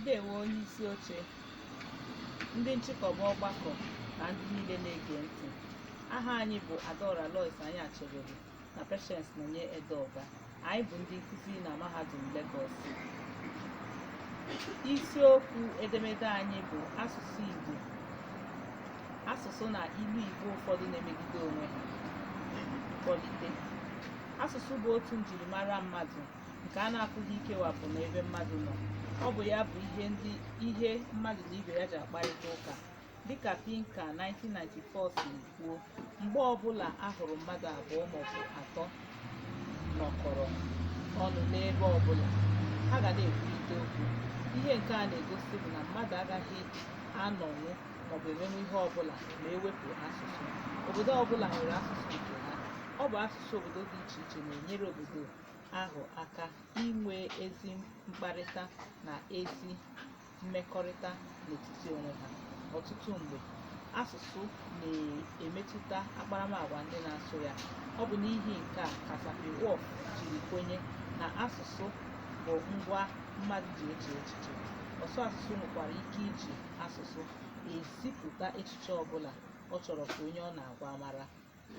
ndewo onye isi oche ndị nchịkọba ọgbakọ na ndị niile na-ege ntị aha anyị bụ adaora lois anyachebelu na patience nonye edeoga anyị bụ ndị nkụzi na mahadum Lagos isiokwu edemede anyị bụ asụsụ igbo asụsụ na ilu igbo ụfọdụ na-emegide onwe ha mkpọlite asụsụ bụ otu njirimara mmadụ nke a na-apụghị ikewapụ n'ebe mmadụ nọ ọ bụ ya bụ ihe ndị ihe mmadụ na ibe ya ji akparịta ụka dịka Pinker 1994 si kwuo mgbe ọbụla a hụrụ mmadụ abụọ maọbụ atọ nọkọrọ ọnụ n'ebe ọbụla ha ga na-ekwurịta okwu ihe nke a na-egosi bụ na mmadụ agaghị anọnwụ maọbụ emenwu ihe ọbụla ma ewepụ asụsụ obodo ọbụla nwere asụsụ nke ha ọ bụ asụsụ obodo dị iche iche na-enyere obodo ahụ aka inwe ezi mkparịta na ezi mmekọrịta n'etiti onwe ha ọtụtụ mgbe asụsụ na-emetụta akparamagwa ndị na-asụ ya ọ bụ n'ihi nke a ka Sapir-Whorf jiri kwenye na asụsụ bụ ngwa mmadụ ji eche echiche ọsụ asụsụ nwekwara ike iji asụsụ ezipụta echiche ọbụla ọ chọrọ ka onye ọ na-agwa mara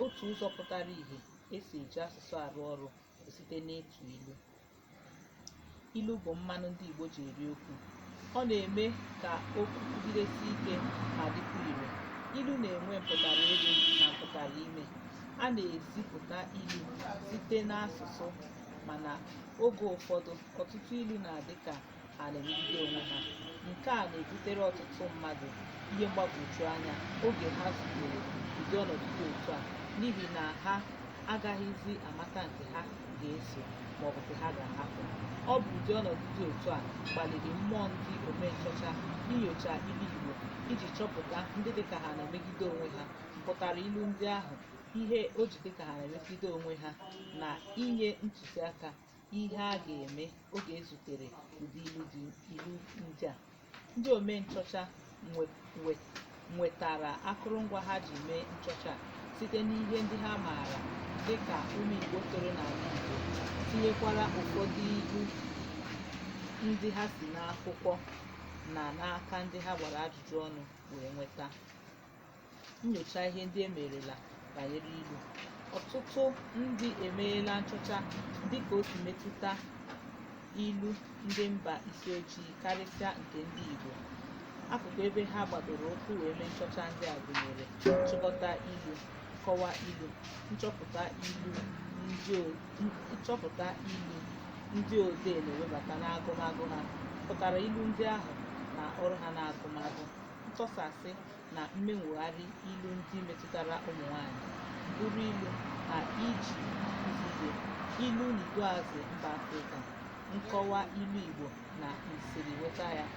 otu ụzọ pụtara ìhè esi eji asụsụ arụ ọrụ bụ site n'ịtụ ilu ilu bụ mmanụ ndị Igbo ji eri okwu ọ na-eme ka okwu kwugidesi ike ma dịkwa ire ilu na-enwe mpụtara elu na mpụtara ime a na-ezipụta ilu site n'asụsụ mana oge ụfọdụ ọtụtụ ilu na-adị ka ha na-emegide onwe ha nke a na-ebutere ọtụtụ mmadụ ihe mgbagwoju anya oge ha zutere ụdị ọnọdụ dị otu a n'ihi na ha agaghịzi amata nke ha ga-eso maọbụ nke ha ga-ahapụ ọ bụ ụdị ọnọdụ dị otu a kpaliri mmụọ ndị ome nchọcha inyocha ilu igbo iji chọpụta ndị dịka ha na-emegide onwe ha mpụtara ilu ndị ahụ ihe o ji dịka ha na-emegide onwe ha na inye ntụziaka ihe a ga-eme oge ezutere ụdị ilu dị ilu ndị a ndị ome nchọcha nwe- nwe- nwetara akụrụngwa ha ji mee nchọcha a site n'ihe ndị ha maara dị ka ụmụ igbo toro n'ala igbo tinyekwara ụfọdụ ilu ndị ha si n'akwụkwọ na n'aka ndị ha gbara ajụjụ ọnụ wee nweta nnyocha ihe ndị emerela banyere ilu ọtụtụ ndị emeela nchọcha dịka o si metụta ilu ndị mba isi ojii karịsịa nke ndị igbo akụkụ ebe ha gbadoro ụkwụ wee mee nchọcha ndị a gụnyere nchịkọta ilu nkọwa ilu nchọpụta ilu ndị o- n- nchọpụta ilu ndị odee na-ewebata n'agụmagụ ha mpụtara ilu ndị ahụ na ọrụ ha n'agụmagụ ntọsasị na mmenwogharị ilu ndị metụtara ụmụ nwanyị, mbụrụ ilu, na iji akụzi ihe, ilu n'iduuazị mba Afrịka, nkọwa ilu Igbo na nsirinweta ya,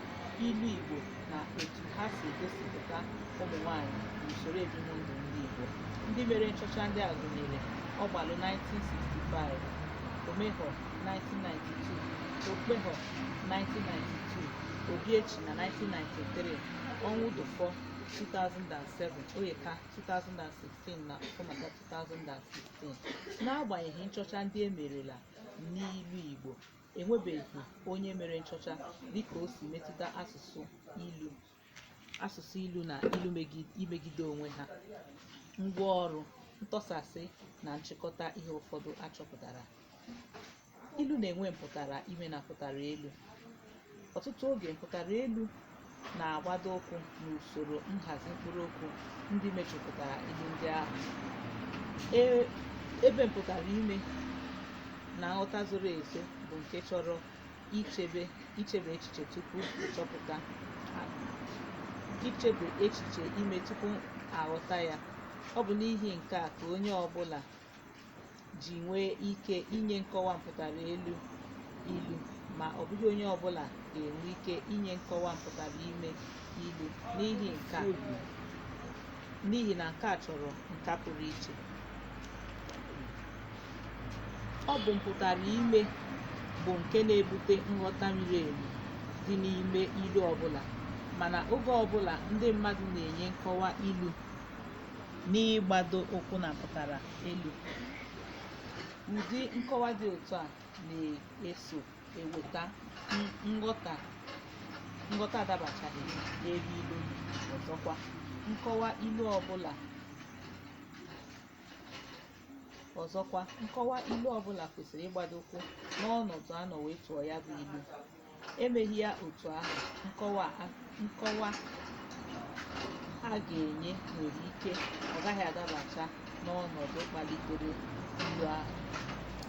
ilu Igbo na etu ha si egosipụta ụmụ nwanyị n'usoro ebimndụ ndị Igbo. Ndị mere nchọcha ndị a gụnyere Ogbalu 1965, Omehor 1992, Okpewho 1992 Obiechina 1993 Ọnwụdufọ 2007 Oyeka 2016 na Ọfọmata 2016 n'agbanyeghị nchọcha ndị e merela n'ilu Igbo enwebeghị onye mere nchọcha dịka o si metụta asụsụ ilu asụsụ ilu na ilu megi- imegide onwe ha ngwa ọrụ ntọsasị na nchịkọta ihe ụfọdụ achọpụtara ilu na-enwe mpụtara ime na mpụtara elu ọtụtụ oge mpụtara elu na-agbado ụkwụ n'usoro nhazi mkpụrụ okwu ndị mejupụtara ilu ndị ahụ E- ebe mpụtara ime na nghọta zoro ezo bụ nke chọrọ ichebe ichebe echiche tupu ịchọpụta a- ichebe echiche ime tupu aghọta ya ọ bụ n'ihi nke a ka onye ọbụla ji nwee ike inye nkọwa mpụtara elu ilu ma ọ bụghị onye ọbụla ga-enwe ike inye nkọwa mpụtara ime ilu n'ihi nke a n'ihi na nke a chọrọ nka pụrụ iche ọ bụ mpụtara ime bụ nke na-ebute nghọta miri emi dị n'ime ilu ọbụla mana oge ọbụla ndị mmadụ na-enye nkọwa ilu n'ịgbado ụkwụ na mpụtara elu ụdị nkọwa dị otu a na-eso eweta n- nghọta nghọta adabachaghị n'ebe ilu dị. ọzọkwa nkọwa ilu ọbụla ọzọkwa nkọwa ilu ọbụla kwesịrị ịgbado ụkwụ n'ọnọdụ a nọ wee tụọ ya bụ ilu emeghị ya otu ahụ nkọwa a- nkọwa a ga-enye nwere ike ọ gaghị adabacha n'ọnọdụ kpalitere ilu ahụ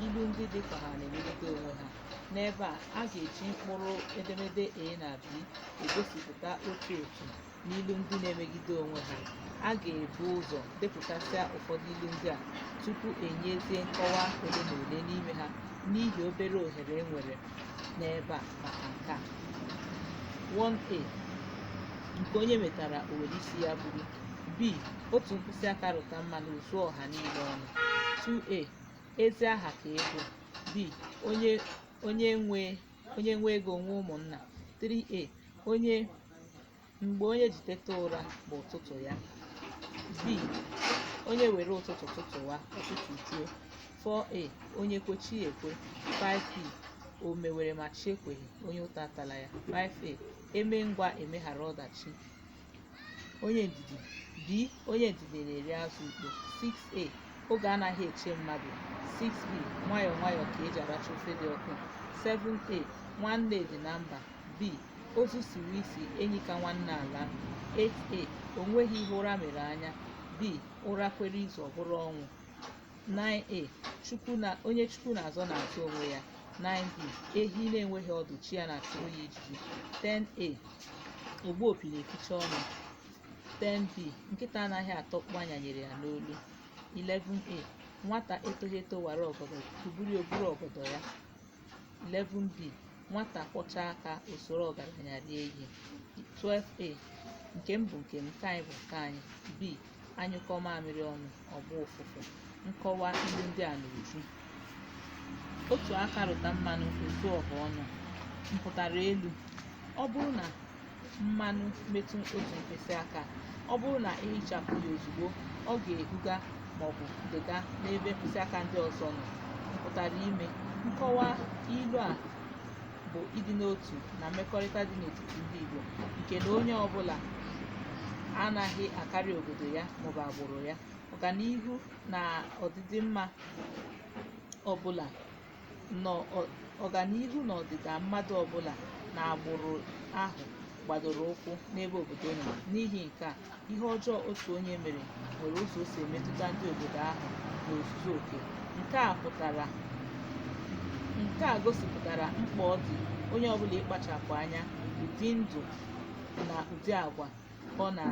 ilu ndị dị ka ha na-emegide onwe ha n'ebe a a ga-eji mkpụrụ edemede a na b egosipụta otu otu na ilu ndị na-emegide onwe ha a ga-ebu ụzọ depụtasịa ụfọdụ ilu ndị a tupu enyezie nkọwa ole na ole n'ime ha n'ihi obere ohere e nwere n'ebe a maka nke a 1a nke onye metara o were isi ya buru b otu mkpịsị aka rụta mmanụ o zuo ọha niile ọnụ 2a ezi aha ka ego b onye onye nwe onye nwe ego nwe ụmụnna 3a onye mgbe onye ji teta ụra bụ ụtụtụ ya b onye were ụtụtụ tụtụwa ọ tụtụjuo 4a onye kwe chi ekwe 5b o mewere ma chi ekweghị onye ụta atala ya 5a eme ngwa emeghara ọdachi onye ndidi b onye ndidi na-eri azụ ukpo 6a oge anaghị eche mmadụ 6b nwayọọ nwayọọ ka eji aracha ofe dị ọkụ 7a nwanne dị na mba b ozu siwe isi enyi ka nwanne alaa 8a o nweghị ihe ụra mere anya b ụra kwere izu ọ bụrụ ọnwụ 9a chukwu na onye chukwu na-azọ na-azọ onwe ya 9b ehi na-enweghị ọdụ chi ya na-achụrụ ya ijiji 10a ogbu opi na-eficha ọnụ 10b nkịta anaghị ata ọkpụ a nyanyere ya n'olu 11a nwata etoghị eto wara ọgọdọ ikuku buru o buru ọgọdọ ya 11b nwata kwọcha aka o soro ọgaranya rie ihe 12a nke m bụ nke m nke anyị bụ nke anyị b a nyụkọọ mamịrị ọnụ ọ gbaa ụfụfụ nkọwa ilu ndị a n'uju otu aka rụta mmanụ o zuo ọha ọnụ mpụtara elu ọ bụrụ na mmanụ metụ otu mkpịsị aka ọ bụrụ na ị hichapụ ya ozugbo ọ ga-ehuga maọbụ dịga n'ebe mkpịsị aka ndị ọzọ nọ mpụtara ime nkọwa ilu a bụ ịdị n'otu na mmekọrịta dị n'etiti ndị Igbo nke na onye ọbụla anaghị akarị obodo ya maọbụ agbụrụ ya ọganihu na ọdịdị mma ọbụla na ọ- ọganihu na ọdịda mmadụ ọbụla na agbụrụ ahụ gbadoro ụkwụ n'ebe obodo nọ n'ihi nke a ihe ọjọọ otu onye mere nwere ụzọ o si emetụta ndị obodo ahụ n'ozuzu oke nke a pụtara nke a gosipụtara mkpa ọ dị onye ọbụla ịkpachapụ anya ụdị ndụ na ụdị agwa ọ na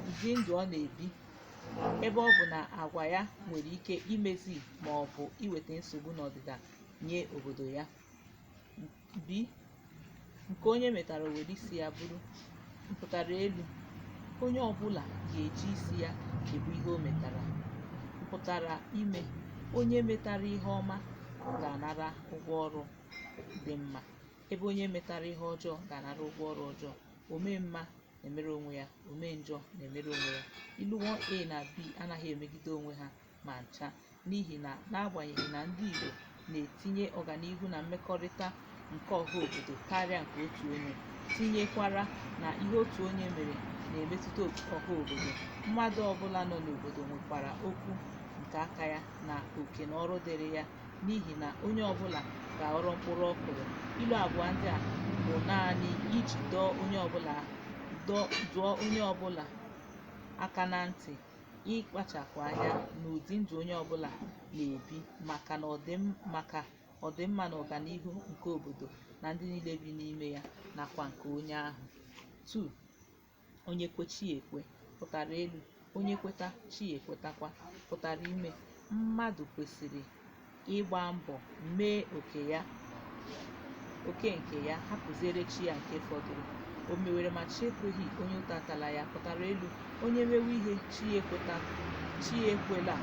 ụdị ndụ ọ na-ebi ebe ọ bụ na agwa ya nwere ike imezi ma ọ bụ iweta nsogbu na ọdịda nye obodo ya b nke onye metara were isi ya buru mpụtara elu onye ọbụla ga-eji isi ya ebu ihe o metara mpụtara ime onye metara ihe ọma ga-anara ụgwọ ọrụ dị mma ebe onye metara ihe ọjọọ ga-anara ụgwọ ọrụ ọjọọ ome mma na-emere onwe ya omee njọ na-emere onwe ya ilu 1a na b anaghị emegide onwe ha ma ncha n'ihi na n'agbanyeghị na ndị Igbo na-etinye ọganihu na mmekọrịta nke ọha obodo karịa nke otu onye tinyekwara na ihe otu onye mere na-emetụta ọha obodo mmadụ ọbụla nọ n'obodo nwekwara okwu nke aka ya na oke na ọrụ dịrị ya n'ihi na onye ọbụla ga-aghọrọ mkpụrụ ọ kụrụ ilu abụọ ndị a bụ naanị iji dọọ onye ọbụla dọọ- dụọ onye ọbụla aka na ntị ịkpachapụ anya n'ụdị ndụ onye ọbụla na-ebi maka na ọdịm maka ọdịmma na ọganihu nke obodo na ndị niile bi n'ime ya nakwa nke onye ahụ 2 onye kwe chi ya ekwe mpụtara elu onye kweta chi ya ekwetakwa mpụtara ime mmadụ kwesịrị ịgba mbọ mee oke ya oke nke ya hapụziere chi ya nke fọdụrụ o mewere ma chi ekweghị onye ụta atala ya mpụtara elu onye mewe ihe chi ya ekweta chi ya ekwela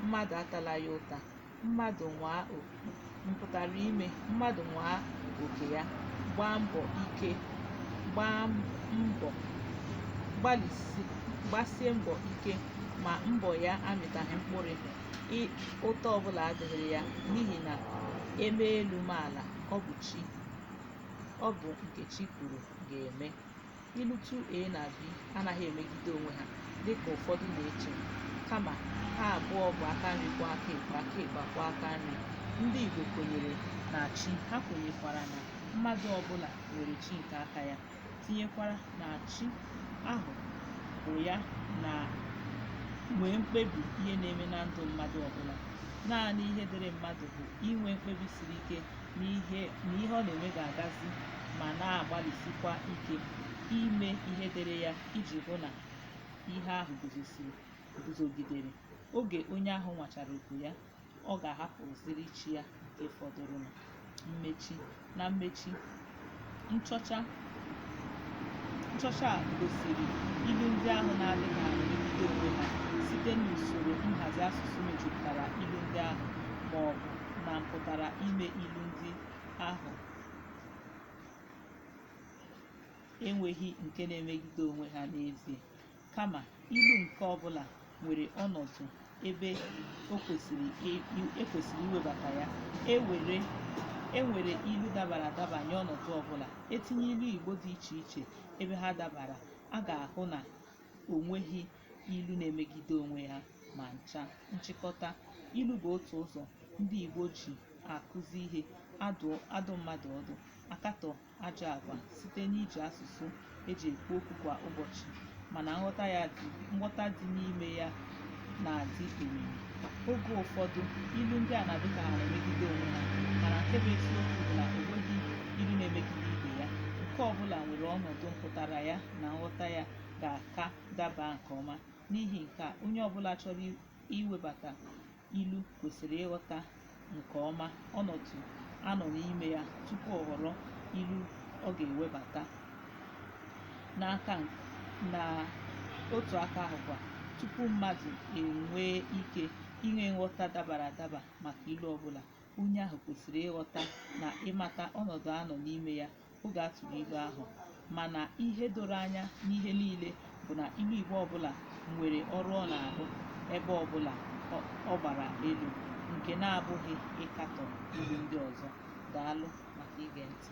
mmadụ atala ya ụta mmadụ nwaa oke mpụtara ime mmadụ nwaa oke ya gbaa mbọ ike gbaa mbọ gbalịsi gbasie mbọ ike ma mbọ ya amịtaghị mkpụrụ ị- ụta ọbụla adịghị ya n'ihi na e mee elu mee ala ọ bụ chi ọ bụ nke chi kwuru ga-eme Ilu 2A na B anaghị emegide onwe ha dị ka ụfọdụ na-eche, kama ha abụọ bụ aka nri kwọọ aka ekpe, aka ekpe akwọọ aka nri. Ndị Igbo kwenyere na chi, ha kwenyekwara na mmadụ ọbụla nwere chi nke aka ya, tinyekwara na chi ahụ bụ ya na nwee mkpebi ihe na-eme na ndụ mmadụ ọbụla. Naanị ihe dịrị mmadụ bụ inwe mkpebi siri ike n'ihe na ihe ọ na-eme ga-agazi ma na-agbalịsikwa ike ime ihe dịrị ya iji hụ na ihe ahụ guzosiri guzogidere oge onye ahụ nwachara oko ya ọ ga-ahapụziri chi ya nke fọdụrụnụ mmechi na mmechi nchọcha nchọcha a gosiri ilu ndị ahụ na-adịghị adị megide onwe ha site n'usoro nhazi asụsụ mejupụtara ilu ndị ahụ ma ọ bụ na mpụtara ime ilu ndị ahụ enweghị nke na-emegide onwe ha n'ezie Kama, ilu nke ọ bụla nwere ọnọdụ ebe o kwesịrị e- i- e kwesịrị iwebata ya. E were e nwere ilu dabara adaba nye ọnọdụ ọ bụla. E tinye ilu Igbo dị iche iche ebe ha dabara, a ga-ahụ na o nweghị ilu na-emegide onwe ya ma ncha. Nchịkọta, ilu bụ otu ụzọ ndị Igbo ji akụzi ihe, adụ adụ mmadụ ọdụ, akatọ ajọ agwa site n'iji asụsụ e ji ekwu okwu kwa ụbọchị mana nghọta ya dị nghọta dị n'ime ya na-adị omimi oge ụfọdụ ilu ndị a na-adị ka ha na-emegide onwe ha mana nke bụ eziokwu bụ na o nweghị ilu na-emegide ibe ya nke ọbụla nwere ọnọdụ mpụtara ya na nghọta ya ga-aka daba nke ọma n'ihi nke a onye ọbụla chọrọ iwebata ilu kwesịrị ịghọta nke ọma ọnọdụ a nọ n'ime ya tupu ọ họrọ ilu ọ ga-ewebata na otu aka ahụkwa tupu mmadụ enwee ike inwe nghọta dabara adaba maka ilu ọbụla onye ahụ kwesịrị ịghọta na ịmata ọnọdụ a nọ n'ime ya oge a tụrụ ilu ahụ mana ihe doro anya n'ihe niile bụ na ilu igbo ọbụla nwere ọrụ ọ na-arụ ebe ọbụla ọ- ọ gbara elu nke na-abụghị ịkatọ ilu ndị ọzọ daalụ maka ige ntị